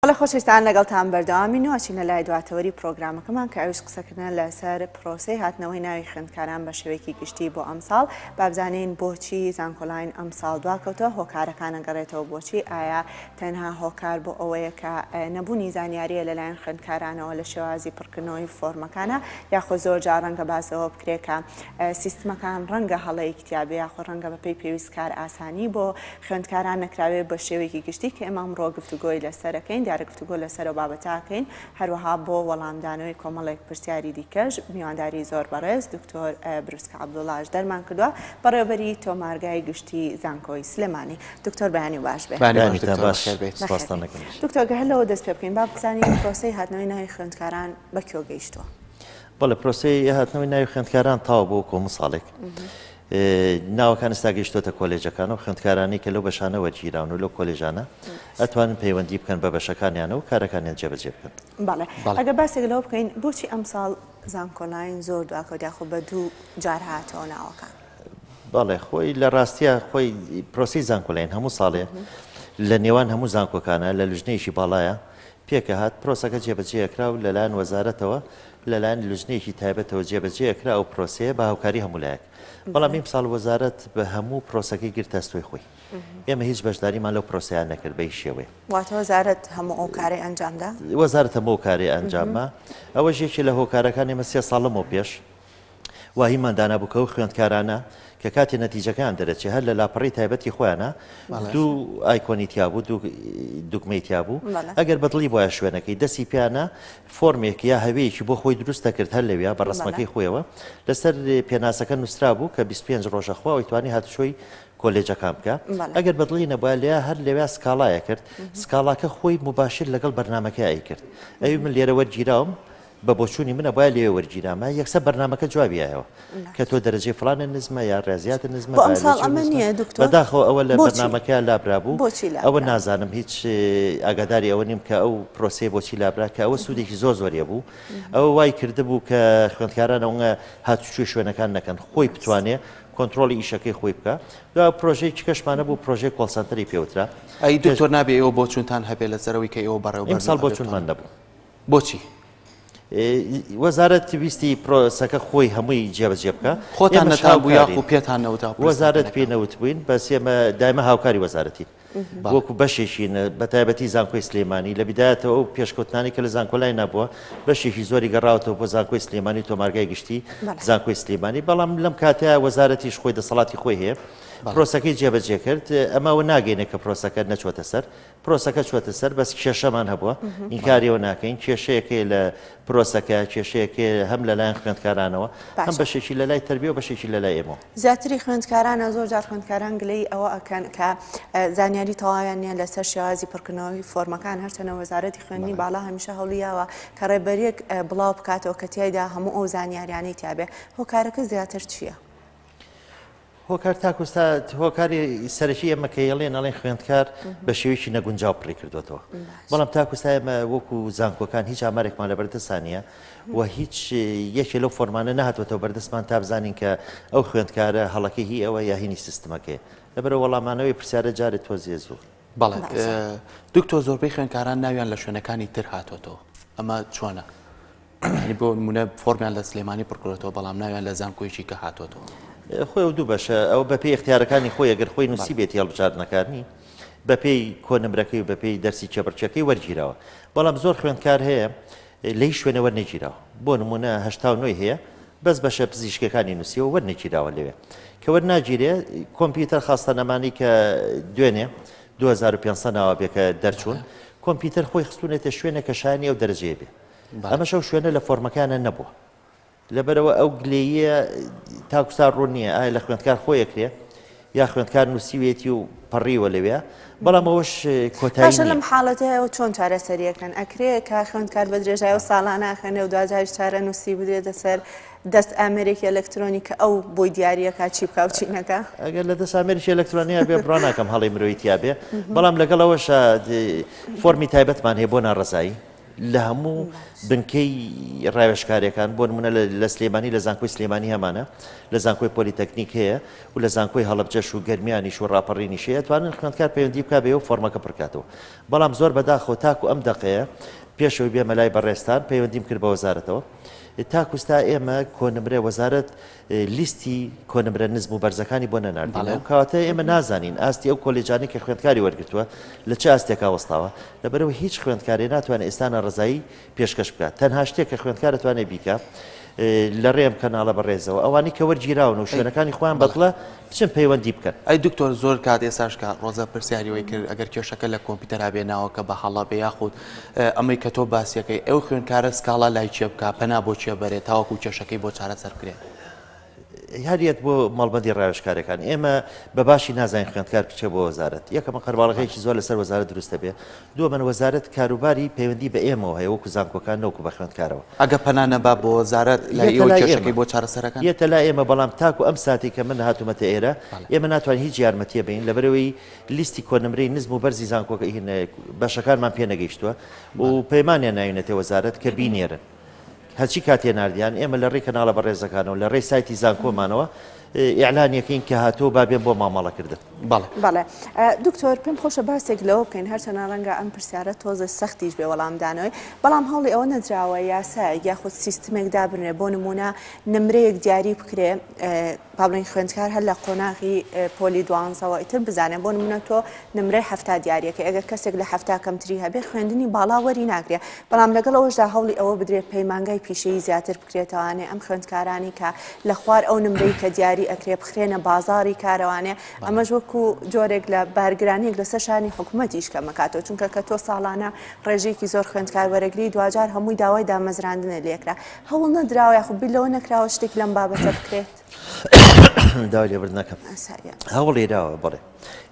هەڵێ خۆشەویستان لەگەڵتان بەردەوامین و ئەچینە لای دواتەوەری پرۆگرامەکەمان کە ئەویش قسەکردنە لەسەر پرۆسەی هاتنەوەی ناوی خوێندکاران بە شێوەیەکی گشتی بۆ ئەمساڵ بابزانین بۆچی زانکۆلاین ئەمساڵ دواکەوتەوە هۆکارەکانە گەڕێتەوە بۆچی ئایا تەنها هۆکار بۆ ئەوەیە کە نەبوونی زانیاریە لەلایەن خوێندکارانەوە لە شێوازی پڕکردنەوەی فۆرمەکانە یاخۆ زۆر جا ڕەنگە باسەوە بکرێکە سیستمەکان ڕەنگە هەڵەیەک تیاابێ یاخۆ ڕەنگە بەپی پێویست کار ئاسانی بۆ خوێندکاران نەکراوێ بە شێوەیەکی گشتی کە ئێمە ئەمڕۆ گفتوگۆی لەسەرەکەین، دیارە گفتوگۆ لەسەر ئەو بابەتە ئەکەین، هەروەها بۆ وەڵامدانەوەی کۆمەڵێک پرسیاری دیکەش میوانداری زۆر بەڕێز دکتۆر بروسکە عەبدوڵاش دەرمان کردووە، بەڕێوەبەری تۆمارگای گشتی زانکۆی سلێمانی. دکتۆر بەیانی باش بێ. بەیانی باش دکتۆر بەخێر بێیت. سپاستان دەکەم. دکتۆر گەر هەر لەوە دەست پێ بکەین با بزانین پرۆسەی هاتنەوەی ناوی خوێندکاران بە کوێ گەیشتووە؟ بەڵێ پرۆسەی هاتنەوەی ناوی خوێندکاران تەواو بووە کۆمساڵێک ناوەکان ئێستا گەیشتۆتە کۆلێجەکان و خوێندکارانی کە لەو بەشانە وەرگیراون و لەو کۆلێژانە ئەتوانن پەیوەندی بکەن بە بەشەکانیانە و کارەکانیان جێبەجێ بکەن بەڵێ ئەگە باسێک لەوە بکەین بۆچی ئەمساڵ زانکۆلاین زۆر دواکەوت یاخۆ بە دوو جار هاتەوە ناوەکان بەڵێ خۆی لە ڕاستیە خۆی پرۆسی زانکۆلاین هەموو ساڵێ لە نێوان هەموو زانکۆکانە لە لژنەیەکی باڵایە پێکە هات پرۆسەکە جێبەجێکرا و لەلایەن وەزارەتەوە لەلایەن لوجنەیەکی تایبەتەوە جێبەجێ ئەکرا ئەو پرۆسەیە بە هاوکاری هەموو لایەک بەڵام ئیمساڵ وەزارەت بە هەموو پرۆسەکەی گرتە ئەستۆی خۆی ئێمە هیچ بەشداریمان لەو پرۆسەیان نەکرد بە هیچ شێوەیە واتە وەزارەت هەموو ئەو کارەی ئەنجامدا وەزارەت هەموو ئەو کارەی ئەنجامما ئەوەش یەکێ لە هۆکارەکان ئێمە سێ ساڵ لەمەو پێش وا هیمان دانابوو کە ئەو خوێندکارانە کە کاتێ نەتیجەکەیان دەرەچێ هەر لە لاپەڕی تایبەتی خۆیانە دوو ئایکۆنی تیابوو دوو دوگمەی تیابوو ئەگەر بەدڵی وایە شوێنەکەی دەسی پیانە فۆرمێک یا هەوێکی بۆ خۆی دروست دەکرد هەر لەویا بە ڕسمەکەی خۆیەوە لەسەر پێناسەکە نووسرا بوو کە 25 ڕۆژە خوا ئەوی توانی هاتوچۆی کۆلێجەکان بکە ئەگەر بەدڵی نەبە لێ هەر لەوێ سکاڵایە کرد سکاڵاکە خۆی مباشر لەگەڵ بەرنمەکە ئەی کرد ئەوی من لێرە وەرگیراوم بە بۆچوونی من ئەبوایە لەوێ وەرگیرامایە یەکسەر بەرنامەکە جوابی یایەوە کە تۆ دەرەجەی فڵانت نزمە یا ڕیازیاتت نزمە بایۆلۆجی نزمە بەداخەوە ئەوە لە بەرنامەکەیان لابرابوو ئەوە نازانم هیچ ئاگاداری ئەوە نیم کە ئەو پرۆسەی بۆچی لابرا کە ئەوە سوودێکی زۆر زۆر هەبوو ئەوە وای کردبوو کە خوێندکاران ئەوە هاتوچوی شوێنەکان نەکەن خۆی بتوانێ کۆنتترۆلی ئیشەکەی خۆی بکە دا پرۆژەیەکی کەشمانە بوو پرۆژێک کۆڵسەنتەری پێوترا ئەی دکتۆر نابێ ئەوە بۆچونتان هەبێ لە سەرەوەی کە ئەوە بەڕێوە ئەمساڵ بۆچونمان نەبوو بۆچی؟ وەزارەت ویستی پرۆسەکە خۆی هەمووی جێبەجێ بکە خۆتان نەتابوو یاخو پێتان نەوتا وەزارەت پێ نەوت بووین بەس ئێمە دایمە هاوکاری وەزارەتی وەکو بەشێکین بە تایبەتی زانکۆی سلێمانی لە بدایەتەوە ئەو پێشکەوتنانی کە لە زانکۆلای نەبووە بەشێکی زۆری گەڕاوەوە بۆ زانکۆی سلێمانی تۆمارگای گشتی زانکۆی سلێمانی بەڵام لەم کاتەیە وەزارەتیش خۆی دەسەڵاتی خۆی هەیە پرۆسەکەی جێبەجێ کرد ئەمەوە ناگەینە کە پرۆسەکە نەچۆتە سەر پرۆسەکە چووەتە سەر بەس کێشەمان هەبووە ئینکاریەوە ناکەین کێشەیەکەی لە پرۆسەکە کێشەیەکێ هەم لەلایەن خوێندکارانەوە هەم بەشێکی لە لای تربیە و بەشێکی لە لای ئێمە زیاتری خوێندکارانە زۆر جار خوێندکاران گلەی ئەوە ئەکەن کە زانیاری تەواویان نیە لەسەر شێوازی پڕکردنەوەی فۆرمەکان هەرچەنە وەزارەتی خوێنی باڵا هەمیشە هەڵیاوە کە ڕێبەرێک بڵاو بکاتەوە کە تایدا هەموو ئەو زانیاریانەی تیاابێ هۆکارەکە زیاتر چییە؟ هۆکار تاکو ئێستا هۆکاری سەرەکی ئێمە کە ئێڵێن ئەڵێن خوێندکار بە شێوەیەکی نەگونجاو پڕی کردوێتەوە بەڵام تاکو ئێستا ئێمە وەکو زانکۆکان هیچ ئامارێکمان لە بەردەستانە و هیچ یەکێ لەو فۆرمانە نهاتوەتەوە بەردەستمان تا بزانین کە ئەو خوێندکارە هەڵەکە هی ئەوە یاهینی سیستمەکەی لەبەر وەڵامانەوەی پرسیارە جارێت تۆزیێ زۆر بەڵێ دکتۆر زۆربەی خوێنکاران ناویان لە شوێنەکانی تر هاتۆتەوە ئەمە چۆنە ینی بۆ نمونە فۆرمیان لە سلێمانی پڕکرێتەوە بەڵام ناویان لە زانکۆیکی کە هاتۆتەوە خۆی و دوو بەشە ئەو بە پێی اختیارەکانی خۆی ئەگەر خۆی نووسی بێتی هەڵبژاردنەکانی بەپێی کۆنمرەکەی و بەپێی دەرسی چێبڕچەکەی وەرگیرەوە بەڵام زۆر خوێندکار هەیە لەیش شوێنە وەرنەگیراوە بۆ نمونە هەشتا و نۆی هەیە بەس بەشە پزیشکەکانی نوسیەوە وەرنەگیراوە لەوێ کە وەرناگیرێ کۆمپیوتەر خاستە نەمانی کە دوێنێ 2500 ناوە بێ کە دەرچوون کۆمپیوتەر خۆی خستونێتە شوێنە کە شانی ئەو دەرجەیە بێ ئەمەشەو شوێنە لە فۆرمەکانە نەبووە لەبەرئەوە ئەو گلەییە تاکوستا ڕوون نییە ئایا لە خوێندکار خۆی ئەکرێ یا خوێندکار نووسیوێتی و پەڕیوە لەوێ بەڵام ئەوەش کۆتایی باشە نییە. لەم حاڵەتەیە چۆن چارەسەریەکەن ئەکرێ کە خوێندکار بە درێژای و ساڵانە ئەخوێنێ و دواجاریش چارەنووسی بدرێتە سەر دەست ئامێرێکی ئەلەکترۆنی کە ئەو بۆی دیارریەکە چی بکا و چی نەکا ئەگەر لە دەست ئامێرێکی ئەلەکترۆنیا بێ بڕا ناکەم هەڵی مرۆیی تیا بێ بەڵام لەگەڵەوەشە فۆرمی تایبەتمان هەیە بۆ ناڕەزایی لە هەموو بنکەی ڕاوێژکاریەکان بۆ نمونە لە سلێمانی لە زانکۆی سلێمانی هەمانە لە زانکۆی پۆلیتەکنیک هەیە و لە زانکۆی هەڵبجەش و گەرمیانیش و ڕاپەڕینی شەیە توانن خوێندکار پەیوەندی بک بێ و فۆرمەکە پڕکاتەوە بەڵام زۆر بەداخەوە تاکو ئەم دەقەیە پێشەوەی بێمەلای بەڕێستان پەیوەندیم کرد بە وەزارەتەوە تاکوستا ئێمە کۆنمرە وەزارت لیستی کۆنمرە نزم و بەرزەکانی بۆ نەناردینەوە، کەواتە ئێمە نازانین ئاستی ئەو کۆلێجانەی کە خوێندکاری وەرگرتووە لە چ ئاستێکا وەستاوە، لەبەرئەوەی هیچ خوێندکارێ ناتوانێ ئێستا ناڕەزایی پێشکەش بکا، تەنها شتێک کە خوێندکار ئەتوانێ بیکا لەڕێی ئەم کەناڵە بەڕێزەوە ئەوانەی کە وەرگیراون و شوێنەکانی خۆیان بەدڵە بچن پەیوەندی بکەن. ئەی دکتۆر زۆر کات ئێستاش کە ڕۆزە پرسیاری وەی کرد ئەگەر کێشەکە لە کۆمپیوتەرا بێ ناوەکە بە هەڵە بێ یاخود ئەمەی کە تۆ باسیەکەی ئەو خوێنکارە سکاڵا لای کێ بکا پەنا بۆ کێ بەرێ تاوەکو کێشەکەی بۆ چارەسەر بکرێ؟ هەر یەت بۆ مەڵبەندی ڕاوێژکارەکان ئێمە بە باشی نازانین خوێندکار بچێ بۆ وەزارەت یەکەمە قەرباڵغەیەکی زۆر لەسەر وەزارەت دروست دەبێ دووەمەن وەزارەت کاروباری پەیوەندی بە ئێمەوە هەیە وەکو زانکۆکان نەوەکو بە خوێندکارەوە ئەگە پەنا نەبا بۆ وەزارەت لای یەتە ئێوە لای کێشەکەی ئێمە بۆ چارەسەرەکەن یەتە لای ئێمە بەڵام تاکو ئەم ساتەی کە من هاتوومەتە ئێرە بەڵێ ئێمە ناتوانین هیچ یارمەتییە بەین لەبەرئەوەی لیستی کۆنمرەی نزم و بەرزی زانکۆکە بەشەکانمان پێ نەگەیشتووە و پەیمانیان ناوینەتێ وەزارەت کە بینێرن. هەرچی کاتێ ناردیان ئێمە لە ڕێی کەناڵە بەڕێزەکانەوە لە ڕێی سایتی زانکۆمانەوە ئیعلانیەکەین کە هاتۆ با بێن بۆ مامەڵەکردن بەڵێ دکتۆر پێم خۆشە باسێک لەوە بکەین هەرچەنە ڕەنگە ئەم پرسیارە تۆزە سەختیش بێ وەڵامدانەوەی بەڵام هەوڵی ئەوە نەدراوە یاسایەک یاخود سیستمێک دابنرێ بۆ نمونە نمرەیەک دیاری بکرێ با بڵێین خوێندکار هەر لە قۆناغی پۆلی دوانزەوە ئیتر بزانێ بۆ نمونە تۆ نمرەی حەفتا دیارەکەی ئەگەر کەسێک لە حەفتا کەمتری هەبێ خوێندنی باڵا وەری ناگرێ بەڵام لەگەڵ ئەوەشدا هەوڵی ئەوە بدرێ پەیمانگای پیشەیی زیاتر بکرێتەوانێ ئەم خوێندکارانەی کە لە خوار ئەو نمرەی کە دیاری ئەکرێ بخرێنە بازاری کارەوانێ ئەمەش وەکو جۆرێک لە بارگرانیەک لەسەر شانی حکوومەتیش کەمەکاتەوە چونکە کە تۆ ساڵانە ڕێژێکی زۆر خوێندکار وەرەگری دواجار هەمووی داوای دامەزراندنە لێکرا هەوڵ نەدراوە یاخود بیر لەوە نەکراوە شتێک لەم بابەتە بکرێت؟ داوای لێبرد نەکەم هەوڵی داوە بڵێ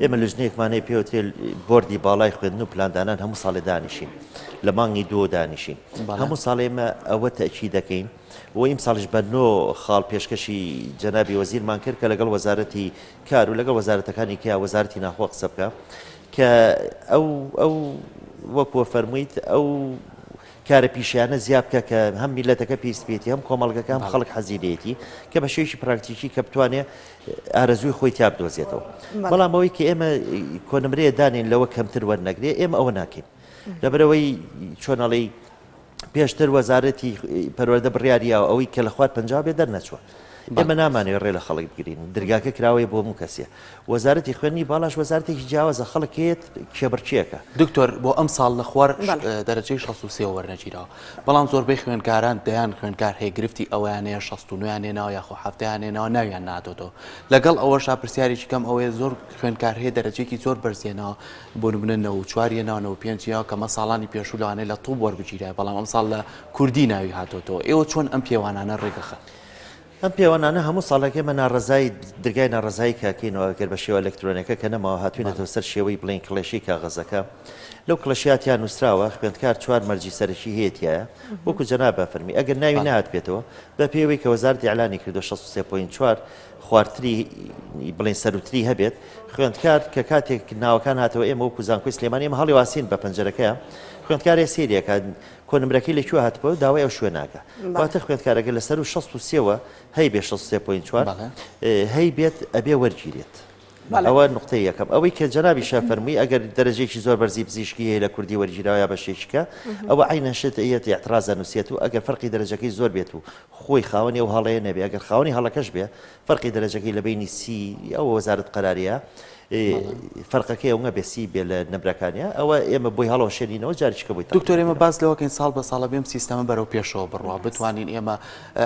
ئێمە لژنێکمانەیە پێوترێ بردی باڵای خوێندن و پلاندانان هەموو ساڵێ دانیشین لە مانگی دوو دانیشین هەموو ساڵ ئێمە ئەوە تەکی دەکەین و ئیم ساڵش بەنۆ خاڵ پێشکەشی جەنابی وەزیرمان کرد کە لەگەڵ وەزارەتی کار و لەگەڵ وەزارەتەکانی کە وەزارتی ناخۆ قسە بکە کە ئەو ئەو وەکوە فەرموویت ئەو کارە پیشەیانە زیا بکە کە هەم میلەتەکە پێویست پێێتی هەم کۆمەڵگەکە هەم خەڵک حەزی لێتی کە بە شێوەیەکی پراکتیکی کە بتوانێ ئارەزووی خۆی تیا بدۆزێتەوە بەڵام ئەوەی کە ئێمە کۆنمرەیە دانین لەوە کەمتر وەرنەگرێ ئێمە ئەوە ناکەین لەبەرەوەی چۆنەڵی پێشتر وەزارەتی پەروەەردە بڕیارییاوە ئەوەی کە لە خوارد پنج بێ دەرنەچوە ئێمە نامانێ ڕێ لە خەڵک بگرین درگاکە کراوەیە بۆ موو کەسێ وەزارەتی خوێندنی باڵاش وەزارەتێکی جیاوازە خەڵک هەیەت کێبڕکێکە. دکتۆر بۆ ئەمساڵ لە خوار دەرەجەی شەست و سێ وەرنەگیراوە بەڵام زۆربەی خوێندکاران دەیان خوێندکار هەیە گرفتی ئەوەیان هەیە شەست و نۆیان هێناوە یاخۆ حەفتەیان هێناوە ناویان نهاتۆتەوە لەگەڵ ئەوەشا پرسیارێکی کەم ئەوەیە زۆر خوێندکار هەیە دەرەجێکی زۆر بەرز هێناوە بۆ نمونە نەوەد و چوار هێناوە نەوەد و پێنج هێناوە کەمە ساڵانی پێشوو لەوانەیە لە طوب وەربگیرایە بەڵام ئەمساڵ لە کوردی ناوی هاتۆتەوە ئێوە چۆن ئەم پێوانانە ڕێکدەخەن؟ ئەم پێوەنانە هەموو ساڵێک ئێمە ناڕەزایی درگای ناڕەزایی کاکەینەوە ئەگەر بە شێوە ئەلەکترۆنیەکە کە نەماوە هاتوینەتەوە سەر شێوەی بڵین کڵێشەی کاغەزەکە لەو کڵەشیا تیا نووسراوە خوێندکار چوار مەرجی سەرەکی هەیەتیایە وەکو جەناب بە فەرمی ئەگەر ناوی نهات بێتەوە بە پێوەی کە وەزارەتی ئەلانی کردو 16.4 خوارتری بڵین سەروتری هەبێت خوێندکار کە کاتێک ناوەکان هاتەوە ئێمە وەکو زانکۆی سلێمانی ئێمە هەڵی واسین بە پەنجەرەکەیان خوێندکارێ سێریەکە کۆنمرەکەی لە کوێ هاتبوە داوای ئەو شوێناکە واتە خوێندکارەکە لە سەرو شەست و سێ وە هەی بێ شەست و سێ پۆینت چوار هەی بێت ئەبێ وەرگیرێت ئەوە نقطەی یەکەم ئەوەی کە جەنابی شا فەرمووی ئەگەر دەرەجێکی زۆر بەرزی پزیشکی هەیە لە کوردی وەرگیراوە یا بەشێکیکە ئەوە عینەن شت یەت اعتراض دەنووسێت و ئەگەر فەرقی دەرەجەکەی زۆر بێت و خۆی خاوەنی ئەو هەڵەیە نەبێ ئەگەر خاوەنی هەڵەکەش بێ فەرقی دەرەجەکەی لە بەینی سی ئەوە وەزارەت قەراریە فەرقەکەی ئەوە بێ سی بێ لە نەبرەکانە ئەوە ئێمە بۆی هەڵەوە شێنینەوە جارچکە بۆی دکتۆر ئێمە باز لەوەکەین ساڵ بە ساڵە بێم سیستەمە بەرەو پێشەوە بڕوا بتوانین ئێمە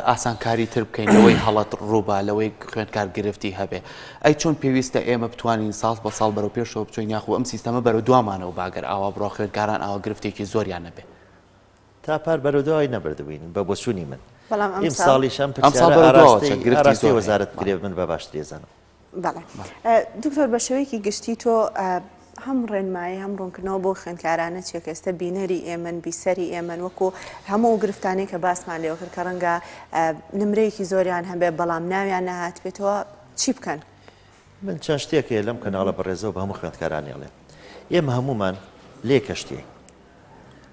ئاسانکاری تر بکەین لەوەی هەڵەت ڕووبا لەوەی خوێندکار گرفتی هەبێ ئەی چۆن پێویستە ئێمە بتوانین ساڵ بە ساڵ بەرەو پێشەوە بچین یاخو ئەم سیستەمە بەرەو دوامانەوە باگەر ئاوا بڕۆ خوێندکاران ئاوا گرفتێکی زۆریان نەبێ تا پار بەرەودوای نەبردبووین بە بۆچوونی من بەڵام ئەم ساڵیش ئەم پرسیارە ئاراستەی وەزارەت بکرێت من بە باشتری ئەزانم بەڵێ دکتۆر بە شێوەیەکی گشتی تۆ هەم ڕێنمایی هەم ڕوونکردنەوە بۆ خوێندکارانە چیە کە ئێستا بینەری ئێمن بیسەری ئێمن وەکو هەموو گرفتانی کە باسمان لێوە کرد کە ڕەنگە نمرەیەکی زۆریان هەبێ بەڵام ناویان نەهات بێتەوە چی بکەن من چەند شتێک هەیە لەم کەناڵە بەڕێزەوە بە هەموو خوێندکارانی ئەڵێم ئێمە هەموومان لێ کەشتێک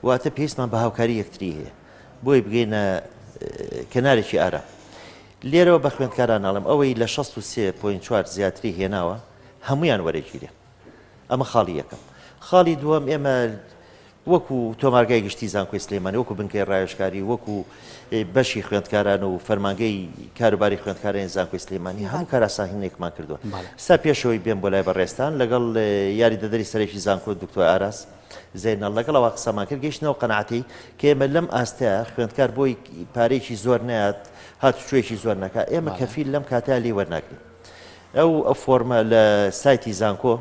واتە پێویستمان بە هاوکاری یەکتری هەیە بۆی بگەینە کەنارێکی ئارا لێرەوە بە خوێندکاران ناڵم ئەوەی لە 16.4 زیاتری هێناوە هەمویان وەرەگیرێ ئەمە خاڵی یەکەم. خاڵی دووەم ئێمە وەکو تۆمارگای گشتی زانکۆی سلێمانی وەکو بنکەی ڕاوێژکاری وەکو بەشی خوێندکاران و فەرمانگەی کاروباری خوێندکارانی زانکۆی سلێمانی هەموو کاراساهینێکمان کردووە سا پێشەوەی بێن بۆ لای بەڕێستان لەگەڵ یاری دەدەری سەرێکی زانکۆ دکتۆ ئاراس زێنە لەگەڵەوە قسەمان کرد گەیشتنەوە قەنعاتی کە ئێمە لەم ئاستە خوێندکار بۆی پارێکی زۆر نات هاتوچۆیەکی زۆر نەکە ئێمە کەفیل لەم کاتە لێ وەرناگرین ئەو فۆرمە لە سایتی زانکۆ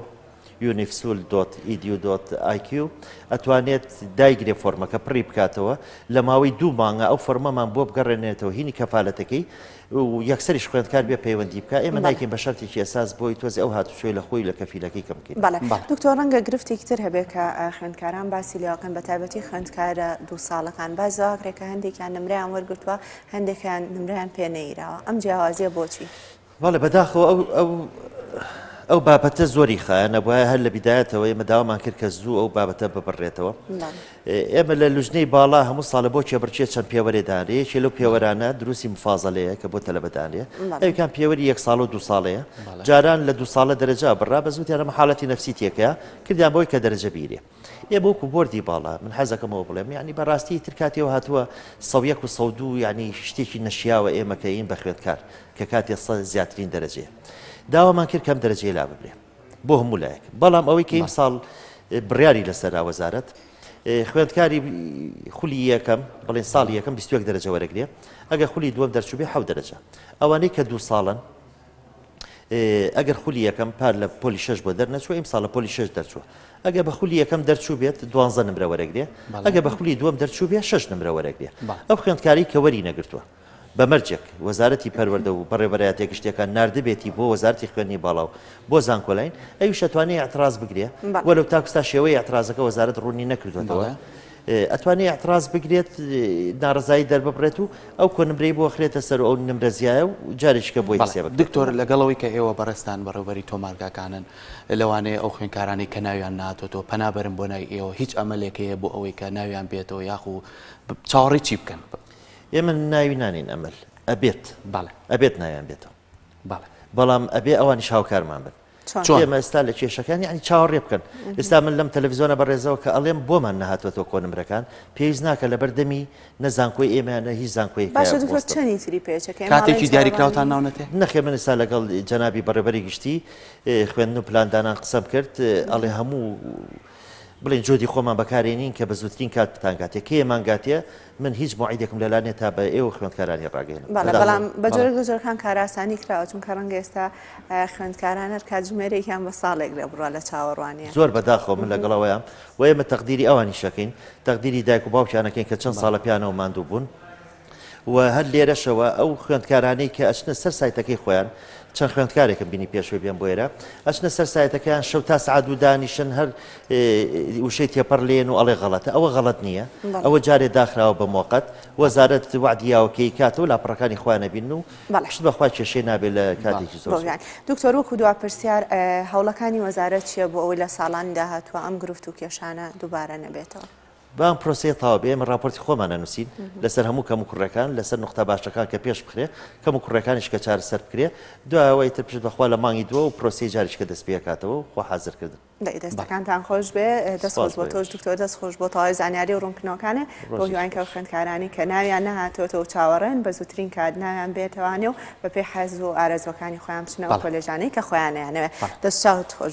یونیفسول دۆت ئیدیو دۆت ئایکیو ئەتوانێت دایگرێ فۆرمەکە پڕی بکاتەوە لە ماوەی دوو مانگە ئەو فۆرمەمان بۆ بگەڕێنێتەوە هینی کەفالەتەکەی و یەکسەریش خوێندکار بێ پەیوەندی بکە ئێمە نایکەین بە شەرتێکی ئێساس بۆی تۆزی ئەو هاتوچۆی لە خۆی لە کەفیلەکەی کەم بکەین بەڵێ بەڵێ دکتۆر ڕەنگە گرفتێکی تر هەبێت کە ئا، خوێندکاران باسی لێوەکەن بە تایبەتی خوێندکارە دوو ساڵەکان باز زاکرێکە هەندێکیان نمرەیان وەرگرتووە هەندێکیان نمرەیان پێ نەیراوە ئەم جیاوازیە بۆچی؟ بەڵێ بەداخەوە ئەو ئەو ئەو بابەتە زۆری خایەنە بواە هەر لە بیدایەتەوە ئێمە داوامان کرد کە زوو ئەو بابەتە ببڕێتەوە ئێمە لە لوژنەی باڵا هەموو ساڵە بۆ کێبڕچێ چەند پێوەێدانێ یەکێ لەو پێوەرانە دروستی مفاازەلەیە کە بۆ تەلەبدانێ ئەوکان پێوەری یەک ساڵ و دو ساڵەیە جاران لە دو ساڵە دەرەجا بڕا بە زووتیانە حاڵەتی نفسی تێکە کردیان بۆی کە دەرەجە بیرێ ئێمە وەکو بۆردی باڵا من حەزەکەم ئەوە بڵێم یعنی بەڕاستی ئیتر کاتێ هاتووە سەد و یەک و سەد و دوو یعنی شتێکی نەشیاوە ئێمە کە ئین بە خوێندکار کە کاتێ سەد زیاترین دەرەجەیە داوامان کرد کەم دەرەجەی لا ببرێ بۆ هەموو لایەک بەڵام ئەوەی کە ئیمساڵ بڕیاری لەسەرا وەزارەت خوێندکاری خولی یەکەم بڵێن ساڵی یەکەم 21 دەرەجە وەرەگرێ ئەگە خولی دووەم دەرچوبێ حەو دەرەجە ئەوانەی کە دوو ساڵن ئەگەر خولی یەکەم پار لە پۆلی شش بۆ دەرنەچوە ئیم ساڵ لە پۆلی شش دەرچوە ئەگە بە خولی یەکەم دەرچوو بێت دوانزە نمرە وەرەگرێ ئەگە بە خولی دووەم دەرچوو بێ شش نمرە وەرەگرێ ئەو خوێندکاری کە وەری نەگرتووە بە مەرجێک وەزارەتی پەروەەردە و بەڕێبەرایەتە گشتەکان نردبێتی بۆ وەزارتی خوێنی باڵا و بۆ زانکۆلاین ئەوی شەتوانانی ئەتراز بگرێ وەلو تاکستا شێوەی ئەترازەکە وەزارت ڕوونی نەکردوێتەوە ئەتوانێ ئیعتراز بگرێت نارەزایی دەرببڕێت و ئەو کۆنمرەی بۆ خرێتە سەر و ئەو نمرە زیایە و جارێکیکە بۆی حسێب بکرێت. دکتۆر لەگەڵەوەی کە ئێوە بەڕێزتان بەڕێوبەری تۆمارگاکانن لەوانەیە ئەو خوێندکارانەی کە ناویان نهاتۆتەوە پەنا بەرن بۆ نای ئێوە هیچ ئەمەلێک هەیە بۆ ئەوەی کە ناویان بێتەوە یاخو چاوەڕێی چی بکەن؟ ئێمە ناوی نانێین ئەمەل ئەبێت بەڵێ ئەبێت ناویان بێتەوە بەڵێ بەڵام ئەبێ ئەوانیش هاوکارمان بن چۆن ئێمە ئێستا لە کێشەکان یعنی چاوەڕێ بکەن ئێستا من لەم تەلەڤزیۆنە بەڕێزەوە کە ئەڵێم بۆمان نهاتوەتەوە کۆنمرەکان پێویست ناکە لەبەر دەمی نە زانکۆی ئێمەیانە هیچ زانکۆی باشە دکتۆر چەندی تری پێچەکە ئێمە کاتێکی ئاڵێن دیاری چاوەڕوان کراوتان نین. ناونەتێ نەخێ من ئێستا لەگەڵ جەنابی بەڕێبەری گشتی اه، خوێندن و پلاندانان قسەم کرد اه، ئەڵێ هەموو بڵێن جۆدی خۆمان بەکارێنین کە بە زووترین کات بتانگاتێ کێ مانگاتێ من هیچ موعیدێکم لەلا نیە تا بە ئێوە خوێندکارانی ڕاگەیەنم. بەڵێ بەڵام بە جۆرێک لە جۆرەکان کارئاسانی کراوە چونکە ڕەنگە ئێستا خوێندکاران هەر کاتژمێرێکیان بە ساڵێک لێ بڕا لە چاوەڕوانیە. زۆر بە داخەوە من لەگەڵ ئەوەیام و ئێمە تەقدیری ئەوانیش ئەکەین تەقدیری دایک و باوکیان ئەکەین کە چەند ساڵە پێیانەوە ماندوو بوون و هەر لێرەشەوە ئەو خوێندکارانەی کە ئەچنە سەر سایتەکەی خۆیان چەند خوێندکارێکم بینی پێشوەی بێم بۆ ئێرە ئەچنە سەر سایتەکەیان شەو تا سەعات دوو دانیشن هەر وشەی تێپەڕ لێن و ئەڵێ غەڵەتە ئەوە غەڵەت نییە ئەوە جارێ داخراوە بە مۆقەت وەزارەت وعدی یاوەکەی کاتەوە لاپەڕەکانی خۆیان نەبین و شت بەخوا کێشەی نابێت لە کاتێکی زۆر دکتۆر وەکو دوا پرسیار هەوڵەکانی وەزارەت چیە بۆ ئەوەی لە ساڵانی داهاتوە ئەم گرفت و کێشانە دووبارە نەبێتەوە بام پرۆسەیە تاوا بێ ئمە راپۆرتی خۆمانە نووسین لەسەر هەموو کەم و کوڕەکان لەسەر نقطە باشەکان کە پێش بخرێ کەم و کوڕەکانیش کە چارەسەر بکرێ دوایەوەی تر پشت بەخوا لە مانگی دووە و پرۆسی جاریشکە دەست پێکاتەوە و خۆ حازرکردن دەی دەستەکانتان خۆش بێ دەست خۆش بۆ تۆش دکتۆر دەست خۆش بۆ تەواوی زانیاری و ڕوونکنەوەکانێ بۆ هیوانکە و خوێندکارانی کە ناویان نەهاتۆتە و چاوەڕێن بە زووترین کات ناویان بێتەوانێ و بەپێی حەز و ئارەزوەکانی خۆیان بچنەوە کۆلێژانەی کە خۆیانیانەوێ دەست چاوت خۆش